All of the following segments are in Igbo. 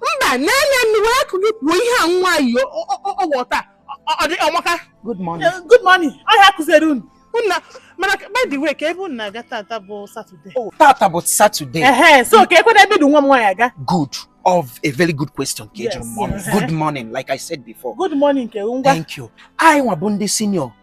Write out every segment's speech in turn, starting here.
mba na-enye nnu wee akụ gị kwuo ihe a nwaanyị ọghọta ọ dị ọmaka good morning eh, good morning ọ ya kụziere unu nna mana by the way kee ebe unu na-aga tata bụ satọde oh, tata bụ satọde ehe so keekwanụ ebe di nwa m nwaanyị aga good ọ bụ very good question ka ị jụrụ m good morning like i said before good morning ke ngwa thank you anyị nwa bụ ndị senior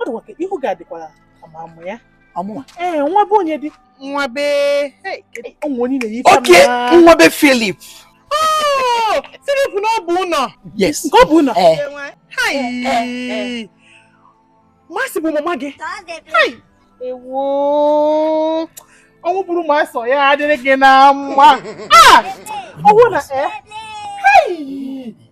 ọ dịkwa ka ihu gị adịkwara ka ama mụ ya ọmụnwa ee nwa be onye dị nwa be ụmụ onye na-eyi okay nwa be Philip oh, Philip n'Obunọ yes nke Obunọ eh. eh, Mercy eh, bụ mama gị ewo ọnwụ buru Mercy ọ ya adịrị gị na mma ah! ọnwụ na